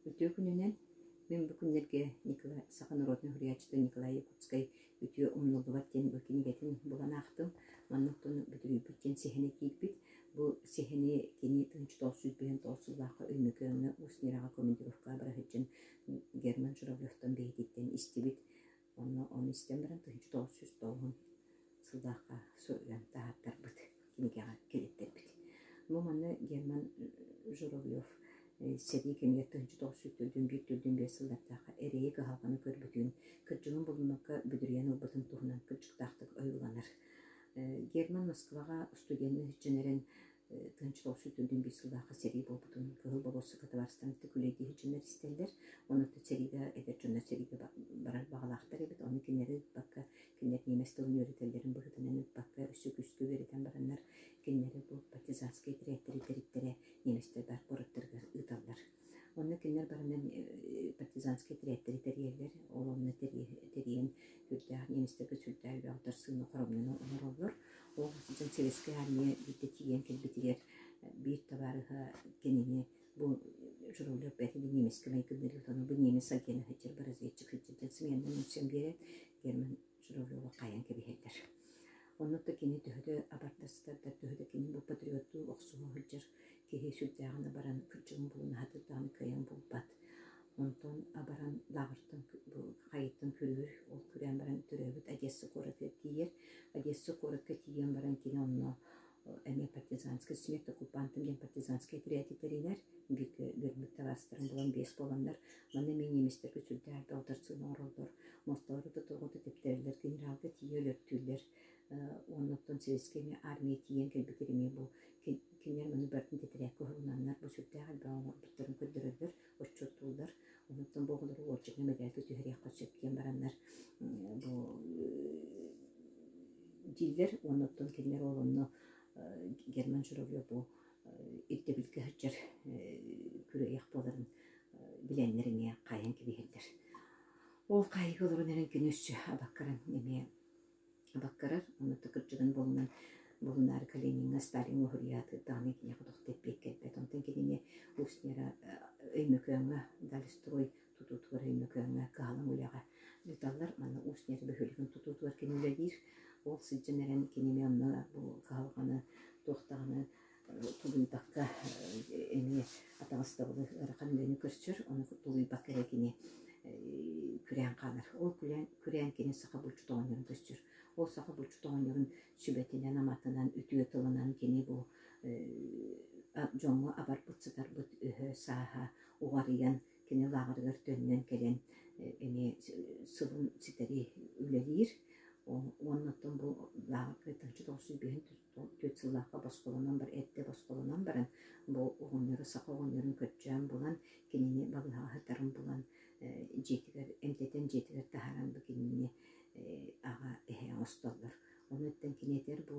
Үтүө күнүнэн! Мин бу күннэргэ Николай, саха народнай уһуйааччыта Николай Якутскай «Үтүө умнуллубат» диэн бу кинигэтин булан аахтым. Манна оттон бүтүрүйбүт диэн сэһэнэ киирбит. Бу сэһэни кини Тынч тоолсуй Бөһөн тоолсуулаахха Өймөкөөҥҥө Усть Ньураҕа командировкаҕа бара сылдьан Герман Журавлевтан бэһититтэн истибит. Онно ону истэн баран тыһыынча тоҕус сүүс тоҕуһун сыллаахха суруйан таһаартарбыт, кинигэҕэ кириттэрбит. Бу манна Герман Журавлев сэрии кэмигэр тыһыынча тоҕус сүүс төрдүн биир төрдүн биэс сыллардаахха эрэйи кыһалҕаны көрбүтүн, кырдьыгын булунарга бүдүрүйэн ылбытын туһунан кырдьыктаахтык ойууланар. Герман Москваҕа студенныы сиччэн эрэн Тынчылов сүтүүтүн биир сыллаахха сэрии буолбутун кыһыл болуоссакка табаарыстарын кытта күлэйдии сылдьаннар истэллэр. Онуоттан сэриигэ эдэр дьоннор сэриигэ барар баҕалаахтар эбит. Ону кинилэри ыыппакка, кинилэр ниэмэс тылын үөрэтэллэрин быһыытынан ыыппакка өссө күүскэ үөрэтэн бараннар, кинилэри бу партизанскай тэрээктэри тэриттэрэ ниэмэстэр баар куораттарыгар ыыталлар. Онно кинилэр баранан партизанскай тирээктэри тэрийэллэр, ол онно тэрийэн сүрдээх немецтэргэ сүрдээх элбэх дарсыыны хоромньуну оҥороллор. Ол сылдьан Советскай Армия биирдэ тиийэн кэлбитигэр биир табаарыһа кинини бу Журавлев бээтинэ немецкэй майгынныыр бу немец агена сылдьар бу разведчик сылдьан сымыйаннан ымсыан биэрээт Герман суруруоҕу хаайан кэбиһэллэр. Оннук да кини төһө да абардастардар, төһө да кини бу патриоттуу охсуһа сылдьар киһи сүрдээҕинэ баран кырдьыгын булуна сатыырдаҕына кыайан булбат. Онтон баран лааҕыртан хайыттан күрүүр, ол күрээн баран төрөөбүт Одесса куоратыгар тиийэр. Одесса куоратка тиийэн баран кини онно эмиэ партизанскай симиэт оккупантын диэн партизанскай этэрээти тэринэр бииргэ үөрбүт табаастарын булан биэс буоланнар манна эмиэ немецтэргэ сүрдээх балтарцыын оҥороллор мостолору тоҕото тэптэрэллэр генералга тиийэ өлөртүүллэр уонна оттон советскай эмиэ армия тиийэн кэлбитэр эмиэ бу кинилэр маны бартын тэтэрээккэ уһугунаннар бу сүрдээх элбэҕи оҥорбуттарын көрдөрөллөр отчуоттууллар. Онтон бу оҕолору уолдьаҥҥа мэтээлгэ түһэриэххэ сөп диэн бараннар бу дииллэр уонна оттон кинилэр уол онно Герман Журавлеву ирдэбилгэ сылдьар күрүөйэх буоларын билэннэр эмиэ хаайан кэбиһэллэр. Ол хаайыыга олорон эрэн күнү өссө абаккаран эмиэ Абаккарар уонна да кырдьыгын буолунан буолунаары Калиниҥҥа Сталин уоһуруйаатыт даҕаны киниэхэ тох тэппиэк кэлбэт. Онтон кинини устнера Өймөкөөҥҥө Дальстрой тутуутугар Өймөкөөҥҥө кыһалаҥ үлэҕэ ыыталлар. Манна устнер бөһүөлэгин тутуутугар кини үлэлиир. Ол сылдьан эрэн кини эмиэ онно бу кыһалҕаны туох даҕаны тулуйбакка эмиэ атаҕастабылы ыарахан үөнү көрсөр, ону тулуйбакка эрэ кини күрээн хаалар. Ол күрээн, күрээн кини саха булчут оҕонньорун көрсөр. Ол саха булчут оҕонньорун сүбэтинэн, аматынан, үтүө тылынан кини бу дьоҥҥо абарбыт, сытарбыт өһө-сааһа уҕарыйан, кини лааҕырыгар төннөн кэлэн эмиэ сылын ситэри үлэлиир. Уонна оттон бу лааҕырга Тыҥча тоҕус сүүс биэһин Төрт-түөрт сыллаахха босхолонон бар эрдэ босхолонон баран, бу оҕонньору саха оҕонньорун көрдөөн булан, кинини балыыһаһытарын булан, дьиэтигэр эмтэтэн дьиэтигэр таһааран бу кинини аҕа эһэ оҥостоллор. Ону оттон кини этэр бу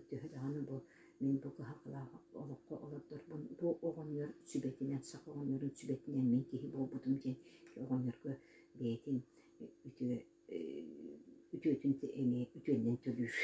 төһө даҕаны бу мин бу кыһалҕалаах олоххо олордорбун бу оҕонньор сүбэтинэн саха оҕонньорун сүбэтинэн мин киһи буолбутум диэн оҕонньорго бэйэтин үтүө үтүөтүн эмиэ үтүөннэн төлүүр.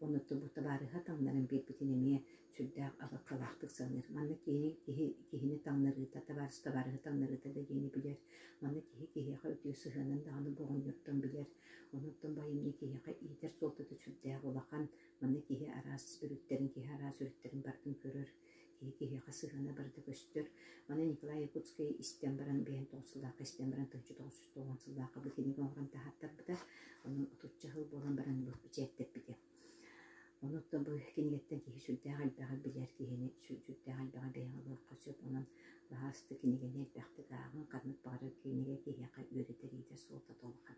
Оннуттан бу табаарыһа таҥнарын биэрбитин эмиэ сүрдээх алҕалаахтык саныыр. Манна киһини киһи киһини таҥнарыыта, табаарыс табаарыһы таҥнарыыта да диэни билэр. Манна киһи киһиэхэ үтүө сыһыанын даҕаны боҕонньортон билэр. Оннуттан бу айымньы киһиэхэ иитэр суолтата сүрдээх улахан. Манна киһи араас өрүттэрин, киһи араас өрүттэрин бардын көрөр. Киһи киһиэхэ сыһыана барыта көстөр. Маны Николай Якутскай истэн баран, бэйэм тоҕус сыллаахха истэн баран, тыынча тоҕус жүз тоҕуон сыллаахха будильнигы оҥорон таһааттарбыта. Онон отучча сыл буолан баран бу бэчээттэппитим. Онуоттан бу кинигэттэн киһи сүрдээх элбэҕи билэр, киһини сүрдээх элбэҕи бэйэҕэ ылыахха сөп. Онон лаһаасты кинигэни элбэхтик ааҕыҥ. Ханнык баҕарар кинигэ киһиэхэ үөрэтэр иитэр суолта да улахан.